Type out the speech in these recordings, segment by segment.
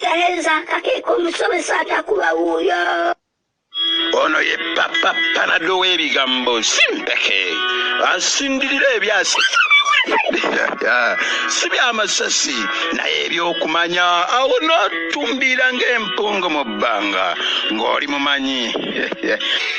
Talenza akakeka omusomesa atakuba wuuyo ono ye papa panado w'ebigambo simpeke asindirira ebyasi si byamasasi naye ebyokumanya awo notumbiira ng'empungu mu bbanga ng'oli mumanyi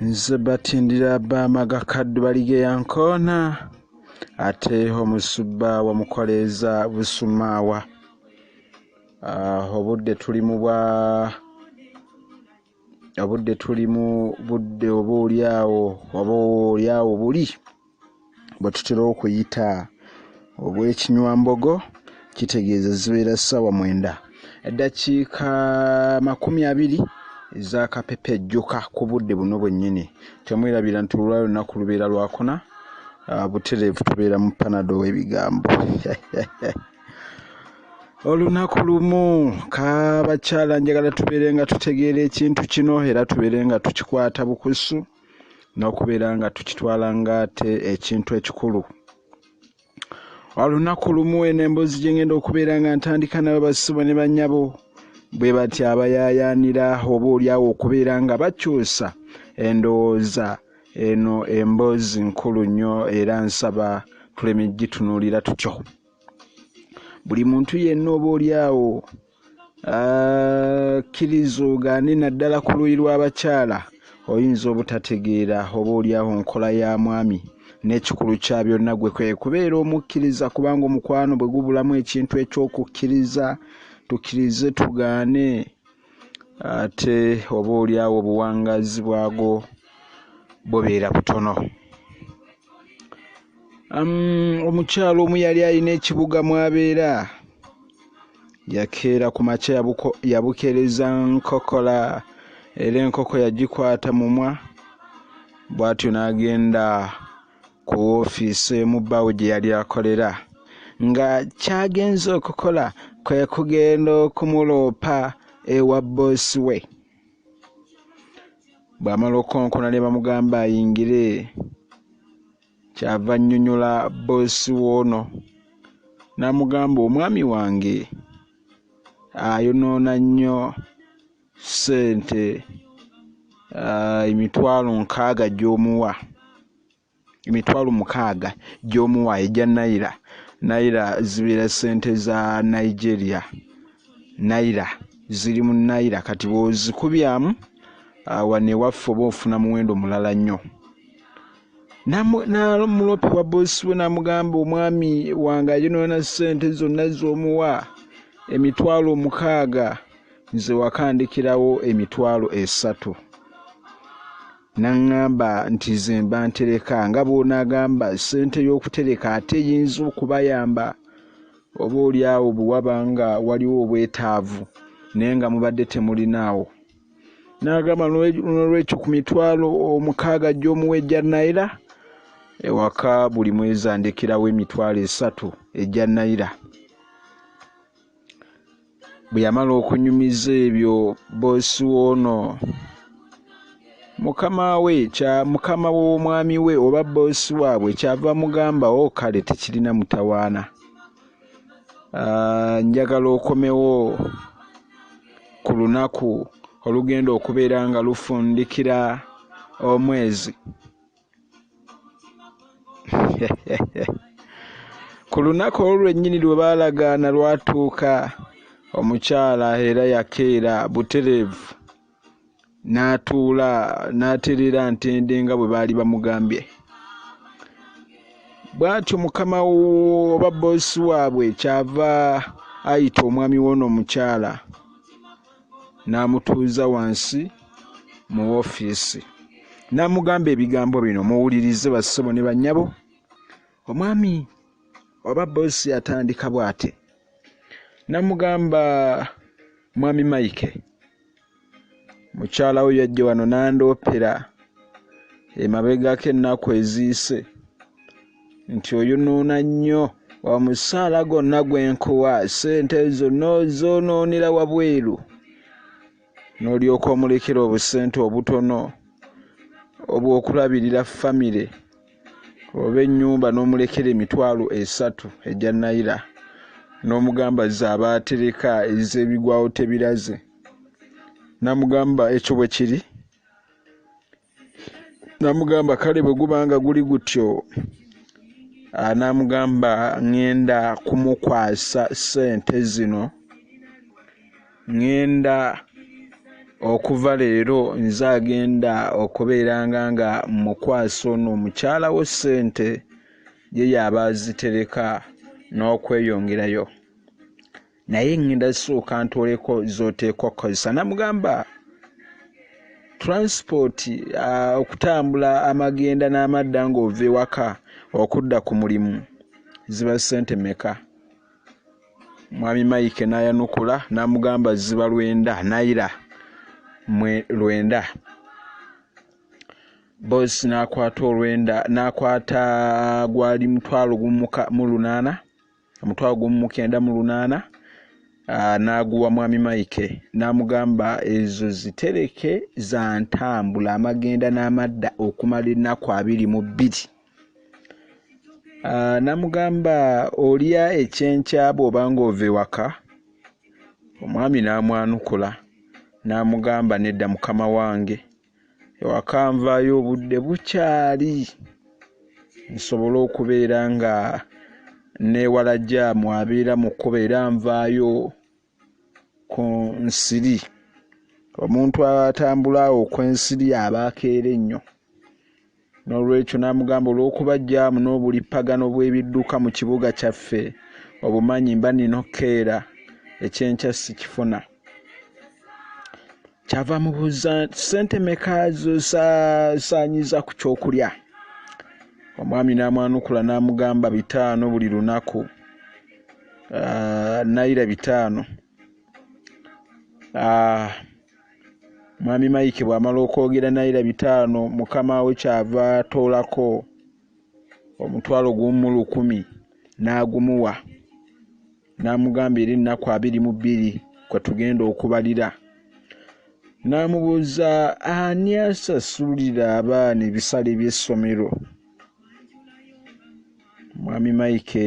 nze batindira bamaga kaddu baligeya nkoona ate omusubba wamukoleeza busumaawa ah, obudde tuli mu bwa obudde tuli mu budde oba olyawo oba olyawo buli bwe tutera okuyita obw'ekinywambogo kitegeeza zibeera ssaawa mwenda eddakiika makumi abiri ezakapepejjuka ku budde buno bwennyini temwerabira nti olwa lunaku lubeera lwakuna ah, butereevu tubeera mu panado w'ebigambo olunaku lumu kabakyala njagala tubeere nga tutegeera ekintu kino era tubeere nga tukikwata bukusu n'okubeera nga tukitwala ng'ate ekintu ekikulu olunaku lumu eno emboozi gye ngenda okubeera nga ntandika nabo basubo ne bannyabo bwe batya abayaayaanira oba olyawo okubeera nga bakyusa endowooza eno emboozi nkulu nnyo era nsaba tuleme gitunuulira tutyo buli muntu yenna oba olyawo akkiriza ogaane naddala ku luuyi lw'abakyala oyinza obutategeera oba olyawo nkola ya mwami n'ekikulu kya byonna gwe kwe kubeera omukkiriza kubanga omukwano bwe gubulamu ekintu eky'okukkiriza tukkirize tugaane ate oba olyawo obuwangaazi bwago bubeera butono omukyalo omu yali alina ekibuga mwabeera yakeera ku makya yabukereza nkokola era enkoko yagikwata mumwa bwatyo n'agenda ku woofiisi emu bbaawe gye yali akolera nga kyagenza okukola kwe kugenda okumuloopa ewa bboosi we bw'amala okukonkona ne bamugamba ayingire kyava annyonnyola bboosi woono n'amugamba omwami wange ayonoona nnyo ssente emitwalo nkaaga gy'omuwa emitwalo mukaaga gy'omuwa egya naira naira zibeera sente za nigeria naira ziri mu naira kati bwozikubyamu ah, wano ewaffe oba ofuna muwendo mulala nnyo namulopi wa bosi we namugamba omwami wange ayonoona sente zonna z'omuwa emitwalo omukaaga nze wakandikirawo emitwalo esatu N'aŋŋamba nti ze mba ntereka, nga bw'onaagamba ssente y'okutereka ate eyinza okubayamba oboolyawo bwe waba nga waliwo obwetaavu naye nga mubadde temulinaawo. N'agamba noolwekyo ku mitwalo omukaaga gy'omuwa egya nayira, ewaka buli mwezi andekerawo emitwalo esatu egya nayira. bwe yamala okunyumiza ebyo boosi woono mukama we kya mukama w'omwami we oba boosi waabwe kyava mugamba o oh, kale tekirina mutawaana ah, njagala okomewo ku lunaku olugenda okubeera nga lufundikira omwezi ku lunaku olwo lwennyini lwe baalagaana lwatuuka omukyala era yakeera butereevu n'atuula n'atereera ntende nga bwe baali bamugambye bw'atyo mukama oba boosi waabwe kyava ayita omwami w'ono omukyala n'amutuuza wansi mu ofiisi n'amugamba ebigambo bino muwulirize bassebo ne bannyabo omwami oba boosi atandika bw'ate n'amugamba mwami mayike mukyala wo yajja wano n'andoopera emabegako ennaku eziyise nti oyonoona nnyo omusaala gonna gwe nkuwa ssente ezo n'ozoonoonera wabweru n'olyoka omulekera obusente obutono obw'okulabirira famire oba ennyumba n'omulekera emitwalo esatu egya nayira n'omugamba z'abaatereka ez'ebigwawo tebiraze namugamba ekyo bwe kiri namugamba kale bwe guba nga guli gutyo anamugamba ŋŋenda kumukwasa ssente zino ŋŋenda okuva leero nze agenda okubeeranga nga mukwasa ono omukyala wo ssente ye yaaba azitereka n'okweyongerayo naye ngenda sooka ntooleko z'oteekwa okukozesa namugamba transport uh, okutambula amagenda n'amadda ng'ova ewaka okudda ku mulimu ziba sente meka mwami maike n'ayanukula n'amugamba ziba lwenda naira mwe lwenda bosi n'akwata olwenda n'akwata gwali mutwalo gumuka mu lunaana omutwalo gumu mu kenda mu lunaana ah, n'aguwa mwami maike n'amugamba ezo zitereke za ntambula amagenda n'amadda okumala ennaku abiri mu bbiri ah, n'amugamba olya ekyenkya bw'oba ng'ova ewaka omwami n'amwanukula n'amugamba nedda mukama wange ewaka nvaayo obudde bukyali nsobole okubeera nga newala jaamu abeera mu kkuba era nvaayo ku nsiri omuntu atambula awo okw'ensiri aba akeera ennyo N'olwekyo n'amugamba, Olw'okuba jjaamu n'obulippagano bw'ebidduka mu kibuga kyaffe obumanyi, mba nnina okukeera, ekyenkya sikifuna. Kyava amubuuza, Ssente meka z'osaasaanyiza ku ky'okulya? Omwami n'amwanukula n'amugamba, Bitaano buli lunaku, ah, nayira bitaano. Ah, Mwami Mike bw'amala okwogera nayira bitaano mukama we ky'ava atoolako omutwalo gumu mu lukumi n'agumuwa n'amugamba era ennaku abiri mu bbiri kwe tugenda okubalira n'amubuuza ani asasulira abaana ebisale by'essomero mwami Mike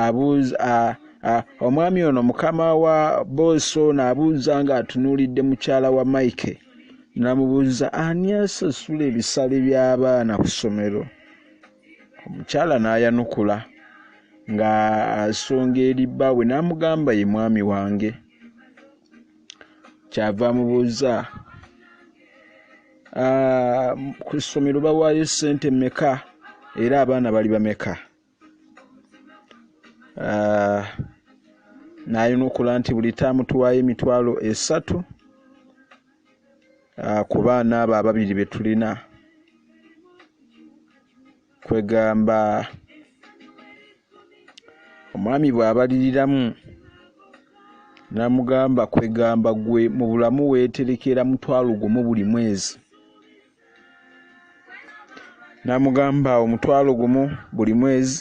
abuuza omwami ono mukama wa boosi ono abuuza ng'atunuulidde mukyala wa mike namubuuza ani asasula ebisale by'abaana ku ssomero omukyala n'ayanukula nga asonga eri bbaawe n'amugamba ye mwami wange kyava amubuuza ku ssomero bawaayo ssente meka era abaana bali bameka ah, n'ayanukula nti buli taamu tuwaayo emitwalo esatu ah, ku baana abo ababiri be tulina kwegamba omwami bw'abaliriramu namugamba kwegamba gwe mu bulamu weeterekera mutwalo gumu buli mwezi namugamba omutwalo gumu buli mwezi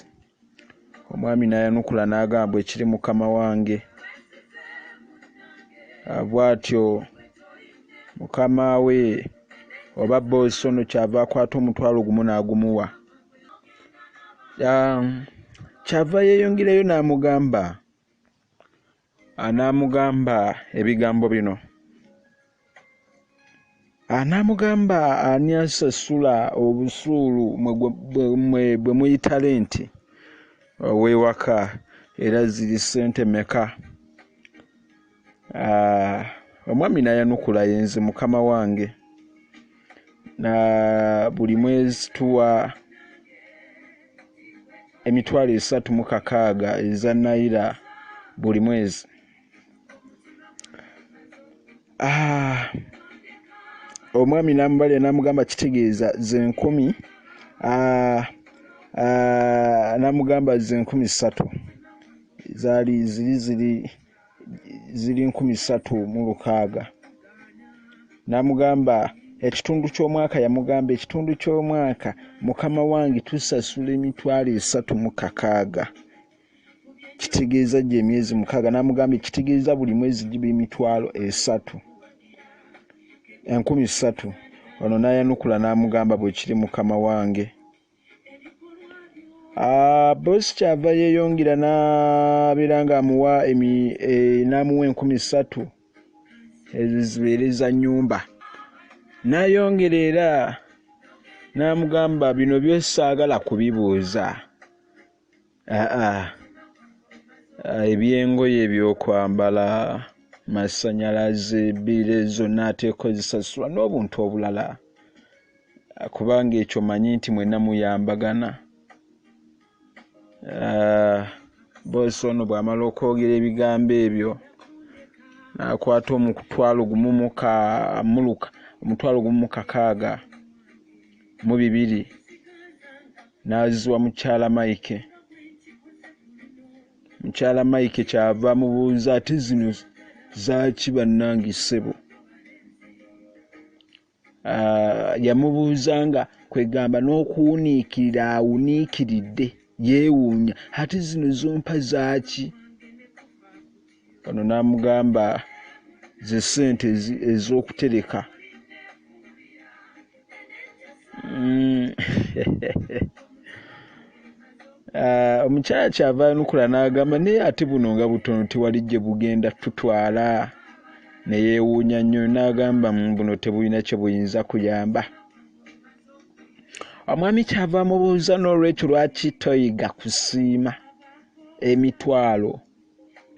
omwami nayanukula nagamba ekiri mukama wange bwatyo mukama we oba boosi ono kyava akwata omutwalo gumu nagumuwa kyava yeyongerayo namugamba Anaamugamba ebigambo bino? Anaamugamba ani asasula obusuulu bwe muyita lenti ow'ewaka era ziri ssente meka? Ah, omwami n'ayanukula yenze mukama wange. na buli mwezi tuwa emitwalo esatu mu kakaaga eza naira buli mwezi ah, omwami namubalira namugamba kitegeeza zenkumi ah, ah, namugamba zenkumi satu zali ziri ziri ziri nkumi ssatu mu lukaaga n'amugamba ekitundu ky'omwaka yamugamba ekitundu ky'omwaka mukama wange tusasula emitwalo esatu mu kakaaga kitegeeza gye emyezi mukaaga n'amugamba ekitegeeza buli mwezi giba emitwalo esatu enkumi ssatu ono n'ayanukula n'amugamba bwe kiri mukama wange Ah, bosi kyava yeyongera nabeera nga amuwa eh, namuwa enkumi satu ezibeere za nyumba nayongera era namugamba bino byosaagala kubibuuza Aa ebyengoye ebyokwambala masanyalaze biire zonna ateekozisasula n'obuntu obulala kubanga ekyo manyi nti mwena muyambagana ah, boosi ono bwamala okwogera ebigambo ebyo nakwata omutwalo gumumukaaga mu bibiri n'aziwa mukyala Mike. Mukyala Mike kyava amubuuza ate zino zaaki bannange ssebo? Ah, yamubuuza nga kwegamba n'okuwuniikirira awuniikiridde yeewuunya ate zino zompa zaaki? ono n'amugamba ze sente ez'okutereka mm. ah, omukyala kyava anukula n'agamba naye ate buno nga butono tewali gye bugenda tutwala neyewuunya nnyo n'agamba buno tebulina kye buyinza kuyamba omwami kyava amubuuza n'olwekyo lwaki toyiga kusiima emitwalo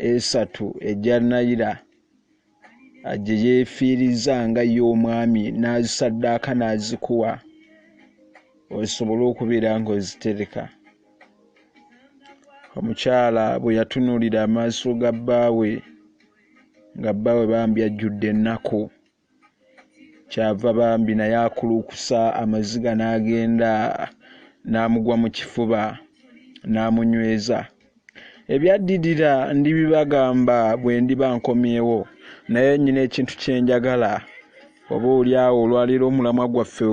esatu egya nayira gye yeefiiriza nga ye omwami n'azisaddaaka n'azikuwa osobole okubeera ng'ozitereka omukyala bwe yatunuulira amaaso ga bbaawe nga bbaawe bambi ajjudde ennaku kyava bambi naye akulukusa amaziga n'agenda n'amugwa mu kifuba n'amunyweza ebyaddirira ndibibagamba bwe ndiba nkomyewo naye nyina ekintu kye njagala oba oli awo olwaleero omulamwa gwaffe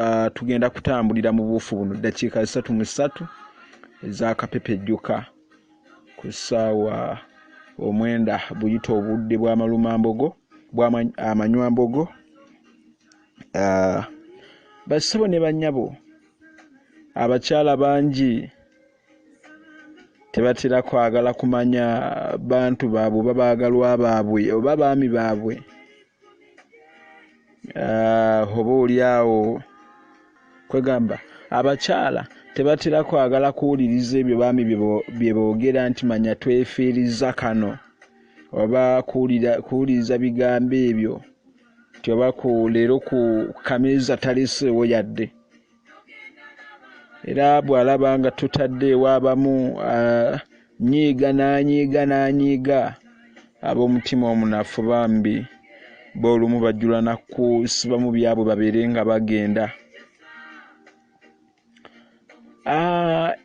ah, tugenda kutambulira mu buufu buno ddakiika zisatu mu ssatu ez'akapepejjuka ku ssaawa omwenda buyita obudde bwamalumambogo amanywambogo ah, bassebo ne banyabo abakyala bangi tebatera kwagala kumanya bantu baabwe oba baagalwa baabwe oba baami baabwe ah, oba oli awo kwegamba abakyala tebatera kwagala kuwuliriza ebyo baami bye boogera nti manya twefiiriza kano oba kuwuliriza bigambo ebyo nti oba ku leero ku kameeza taleseewo yadde era bw'alaba nga tutadde ewaabamu nyiiga n'anyiiga n'anyiiga ab'omutima omunafu bambi boolumu bajjula nakusibamu byabwe babeere nga bagenda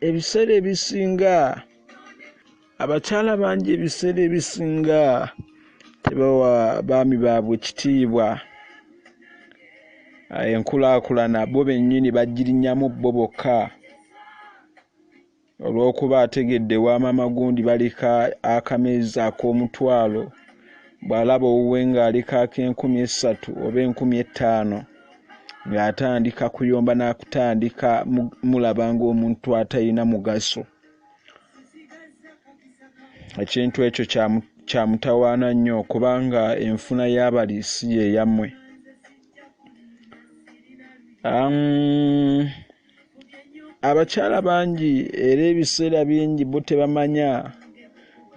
ebiseera ebisinga abakyala bangi ebiseera ebisinga tebawa baami baabwe kitiibwa ah, enkulaakulana bo bennyini bagirinyamu bo bokka olw'okuba ategedde wa maama gundi balika akameezi ak'omutwalo bw'alaba owuwe ng'alika ak'enkumi essatu oba enkumi ettaano ng'atandika kuyomba n'akutandika mulaba ng'omuntu atalina mugaso ekintu ekyo kyamutawaana nnyo kubanga enfuna y'abali si yeyammwe abakyala bangi era ebiseera bingi bo tebamanya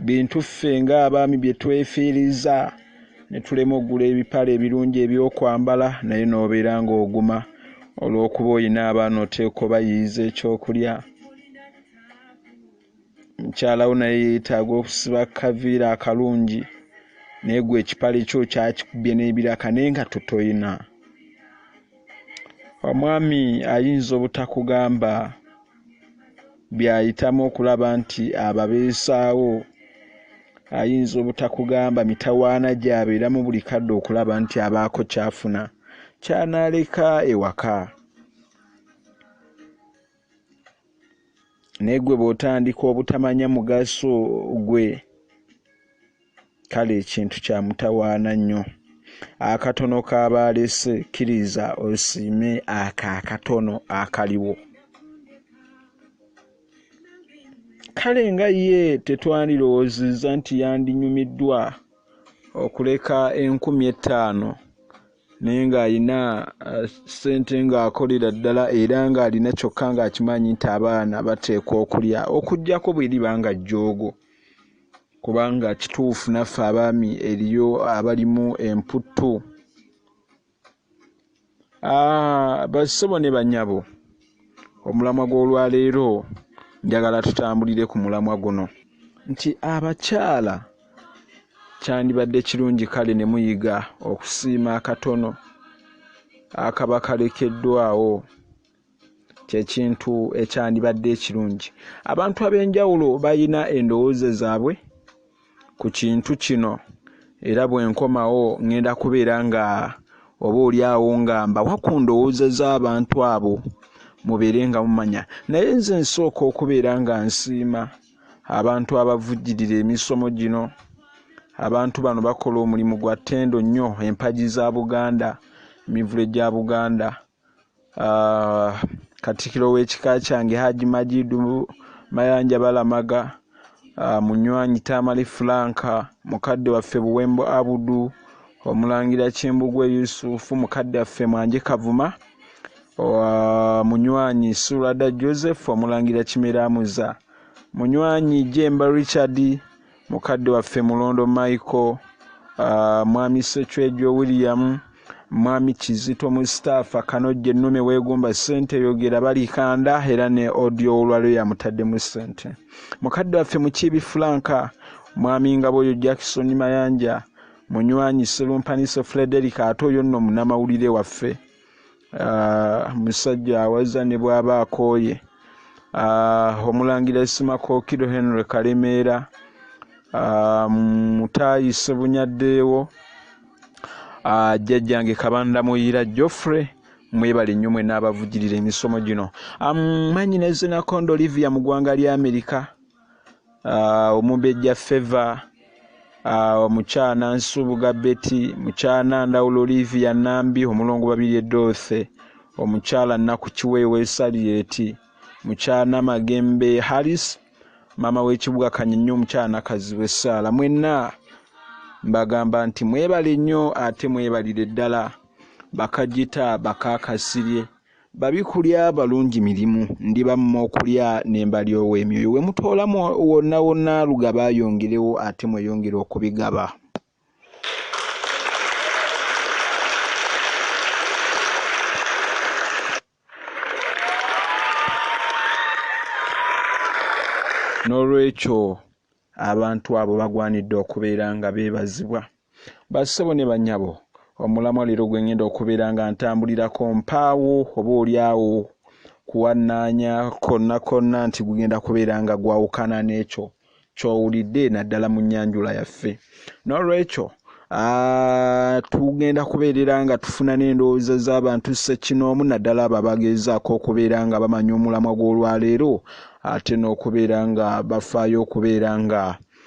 bintu ffe ng'abaami bye twefiiriza ne tulema okugula ebipale ebirungi ebyokwambala naye n'obeera ng'oguma olw'okuba olina abaana oteeka obayiiza ekyokulya mukyala wo naye yeetaaga okusiba kaviira akalungi naye gwe ekipale kyo kyakikubye n'ebiraka naye nga totoyina omwami ayinza obutakugamba by'ayitamu okulaba nti ababeesaawo ayinza obutakugamba mitawaana gy'abeeramu buli kadde okulaba nti abaako kyafuna kyanaaleka ewaka naye gwe bwotandika obutamanya mugaso gwe kale ekintu kyamutawaana nnyo akatono kabaalese kkiriza osiime ako akatono akaliwo kale nga ye tetwandirowoozezza nti yandinyumiddwa okuleka enkumi ettaano naye ng'alina uh, ssente uh, ng'akolera ddala era ng'alina kyokka ng'akimanyi nti abaana bateekwa okulya okugyako bweriba nga jjoogo kubanga kituufu naffe abaami eriyo abalimu emputtu ah, basebo ne banyabo omulamwa gw'olwaleero njagala tutambulire ku mulamwa guno nti abakyala kyandibadde kirungi kale ne muyiga okusiima akatono akaba kalekeddwawo kyekintu ekyandibadde ekirungi abantu ab'enjawulo balina endowooza zaabwe ku kintu kino era bwe nkomawo ŋŋenda kubeera nga oba oli awo nga mbawa ku ndowooza z'abantu abo mubeere nga mumanya naye nze nsooka okubeera nga nsiima abantu abavujjirira emisomo gino abantu bano bakola omulimu gwa ttendo nnyo empagi za buganda emivule gya buganda ah, katikiro w'ekika kyange haji majidu mayanja balamaga ah, munywanyi tamale fulanka mukadde waffe buwembo abudu omulangira kimbugwe yusufu mukadde waffe mwanje kavuma Owa munywanyi Sulada Joseph Omulangira Kimeramuza, munywanyi Jemba Richard, mukadde waffe Mulondo Michael, uh, mwami Secwejo William, mwami Kizito Mustafa Kanojje Nume Wegomba Sente Yogera Balikanda era ne audio olwalyo yamutaddemu sente. Mukadde waffe Mukiibi Flanka, mwami Ngaboyo Jackson Mayanja, munywanyi Serumpaniso Frederick ate oyo nno munamawulire waffe. ah, musajja awaza ne bwaba akooye ah, omulangira esimakookiro henry kalemeera ah, mutaayi sebunyaddeewo jjajjange kabanda muyira joffrey mwebale nnyo mwe n'abavugirira emisomo gino amanyi nezinakonda olivia mu ggwanga lya amerika uh, omumbejja feva uh, mukyana nsubuga beti mukyana ndawula olivia nambi omulongo babiri edothe omukyala naku kiweewa esalieti mukyana magembe harris maama w'ekibuga kanyinyo omukyala nakazibu essaala mwenna mbagamba nti mwebale nnyo ate mwebalire ddala bakajita bakakasirye Babi kulya balungi mirimu, ndiba mu okulya ne mbalyowa emyoyo. We mutoola wonna wonna lugaba ayongerewo ate mweyongere okubigaba. N'olwekyo abantu abo bagwanidde okubeera nga beebazibwa. Bassebo ne bannyabo, omulamwa leero gwe ngenda okubeera nga ntambulirako mpaawo oba olyawo kuwannaanya konna konna nti gugenda kubeera nga gwawukana n'ekyo ky'owulidde naddala mu nnyanjula yaffe. N'olwekyo Ah, tugenda kubeerera nga tufuna n'endowooza z'abantu ssekinoomu naddala abo abageezaako okubeera nga bamanya omulamwa gw'olwaleero ate n'okubeera nga bafaayo okubeera nga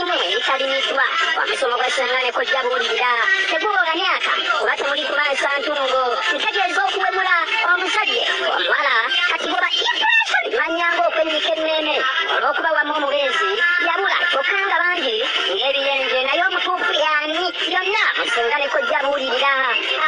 Ssentebe yitaliiddwa wa musomo gwa Ssenga ne Kojja Buulirira teguwoga myaka kuba temuli kumansa ntungo ntegeeza okuwemula omuzadde omuwala kati bwe ba Immigration manya ng'okwennyika emmeeme olw'okuba wamu omubeezi yabula kyokka nga bangi ng'ebiyenje naye omutuufu y'ani yonna mu Ssenga ne Kojja Buulirira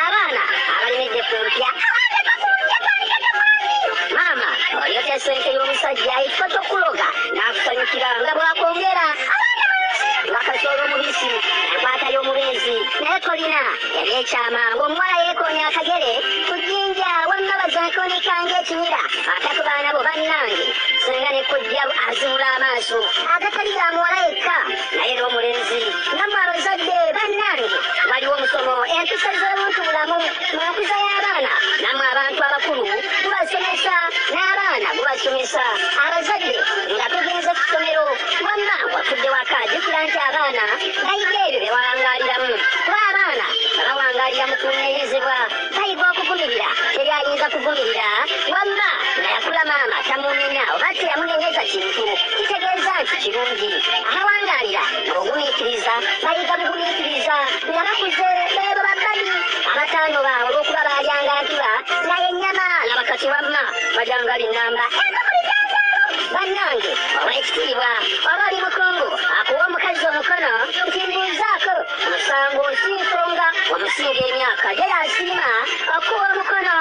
abaana abalemedde ku mpya abandeka ku mpya twandikeko mwami maama olyotesenke y'omusajja ekifo ky'okuloga n'akusanyukira nga bw'akwongera abaana bangi bakazoola omubisi akwatayo omubeezi naye kolina yali ekyama ng'omuwala yeekoonya akagere ku jjinja wamma bazakonika ng'ekimira ate ku baana bo bannange senga ne kojja azinula amaaso agatali ga muwala yekka naye n'omulenzi namwe abazadde bannange waliwo omusomo empisa z'omuntu bulamu mu nkuza y'abaana namwe abantu abakulu gubasomesa n'abaana gubasomesa abazadde nga tugenze ku ssomero wamma wafudde waka jukira nti abaana bayiga ebyo bye wawangaliramu kuba abaana babawangalira mu kunenyezebwa bayiga okuvumirira teri ayinza kuvumirira wamma nga yakula maama tamunenya oba teyamunenyeza kiri Kino kitegeeza nti kirungi abawangaalira mu bugumiikiriza bayiga bugumiikiriza nga bakuze beebo babbali abatanoba olw'okuba baalyanga ntuba nga yennyama laba kati wamma balyanga binnamba eva ku bijanjaalo bannange ow'ekitiibwa oba oli mukungu akuwa omukazi omukono nti mbuuzaako musango nsiiko nga omusinga emyaka gye yasiima okuwa omukono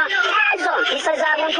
ezo mpisa za buntu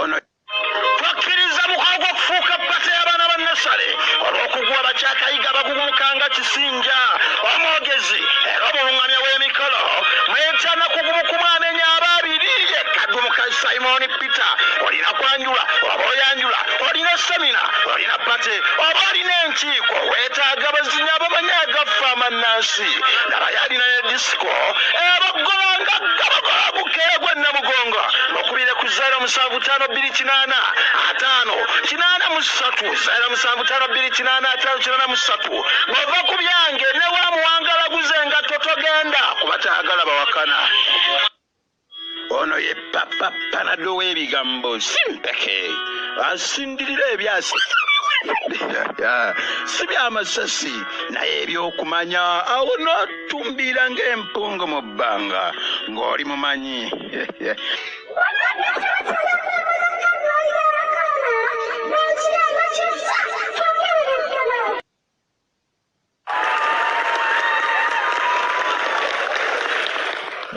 ono twakkiriza mukolo gw'okufuuka ppate y'abaana ba nasale olw'okuguwa bakyakayiga abagugumuka nga kisinja omwogezi era omulungamya w'emikolo mwetana kugumukumu amenya aba abiri yekagumuka simoni peter olina kwanjula oba oyanjula olina semina olina pate oba olina enkiiko weetaaga bazinya abamanya agaffe amannansi nabayalina ne disiko Kko ebaggola nga gabagola bukeera gwa Namugongo bakubire ku zaira musanvu tano bbiri kinaana ataano kinaana mu ssatu zaira musanvu tano bbiri kinaana ataano kinaana mu ssatu bava ku byange ne wa muwangalaguze nga totogenda kuba tayagala bawakana Ono ye papa panado w'ebigambo simpeke asindirira ebyasi si byamasasi naye ebyokumanya awo notumbiira ng'empungu mu bbanga ng'oli mumanyi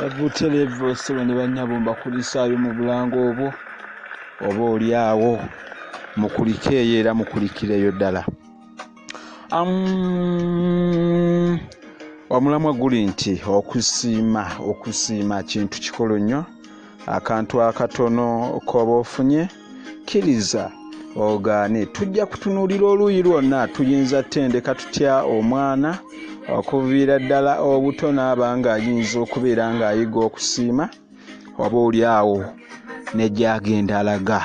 Ebutele Vosolo ne bannyabo mbakulisaayo mu bulango obwo oba oli awo mukulikeeyo era mukulikireyo ddala omulamwa guli nti okusiima okusiima kintu kikolo nnyo akantu akatono k'oba ofunye kkiriza ogaane tujja kutunuulira oluuyi lwonna tuyinza ttendeka tutya omwana okuviira ddala obuto n'aba ng'ayinza okubeera ng'ayiga okusiima oba oli awo negyagenda alaga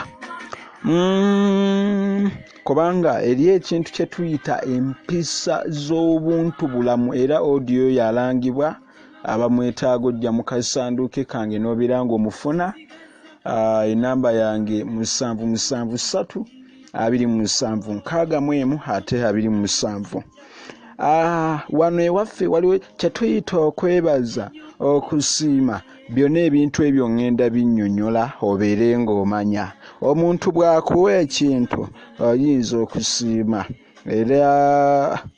mm, kubanga eri ekintu kye tuyita empisa z'obuntu bulamu era odiyo yalangibwa abamwetaaga ojja mu kasanduuke kange n'obeera ng'omufuna ah, enamba yange musanvu musanvu ssatu abiri mu musanvu nkaaga mu emu ate abiri mu musanvu ah, wano ewaffe waliwo kyetuyita okwebaza okusiima byonna ebintu ebyo ŋŋenda binnyonnyola obeere ng'omanya omuntu bw'akuwa ekintu oyinza okusiima era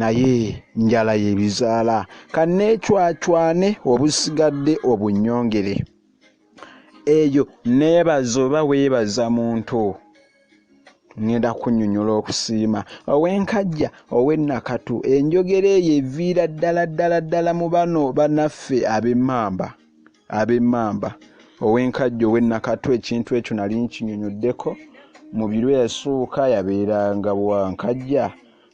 naye njala yebizaala kanneecwacwane obusigadde obunyongere eyo neebaza oba weebaza muntu ŋŋenda kunyonyola okusiima ow'enkajja ow'ennakatu enjogera eyo eviira ddala ddala ddala mu bano banaffe ab'emmamba ab'emmamba ow'enkajjo ow'e Nakatu ekintu ekyo nali nkinyonyoddeko mu biro eyasooka yabeeranga wa nkajja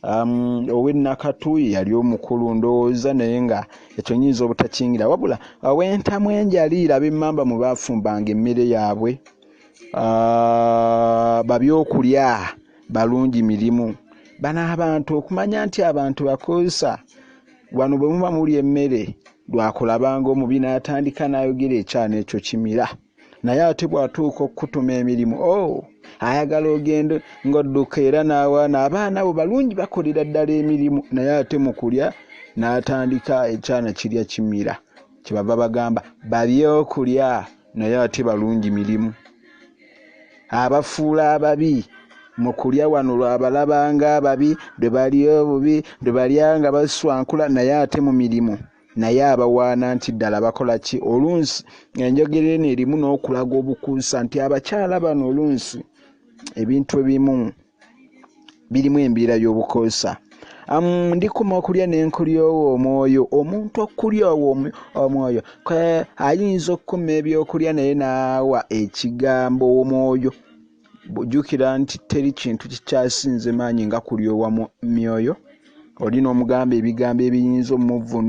um, ow'e Nakatu yali omukulu ndowooza naye nga ekyo nyinza obutakingira wabula ow'entamu enjaliira ab'emmamba mwe baafumbanga emmere yaabwe uh, babyokulya balungi mirimu bano abantu okumanya nti abantu bakozesa Wano bwe muba mulya emmere lwakulabanga omubi n'atandika n'ayogera ekyana ekyo kimira naye ate bw'atuuka okukutuma emirimu o oh, ayagala ogende ng'odduka era n'awaana abaana bo balungi bakolera ddala emirimu naye ate mu kulya n'atandika ekyana kirya kimira kye bava bagamba babyokulya naye ate balungi mirimu abafuula ababi mu kulya wano lwabalabanga ababi lwe balya obubi lwe balya nga baswankula naye ate mu mirimu naye abawaana nti ddala bakola ki olunsi enjogera eno erimu n'okulaga obukuusa nti abakyala bano olunsi ebintu ebimu birimu embeera y'obukoosa ndikuma okulya nenkulyowo omwoyo omuntu okulyowo omwoyo ayinza okukuma ebyokulya naye naawa ekigambo omwoyo jukira nti teri kintu kikyasinze maanyi nga kulyowa myoyo oli n'omugamba ebigambo ebiyinza omuvunu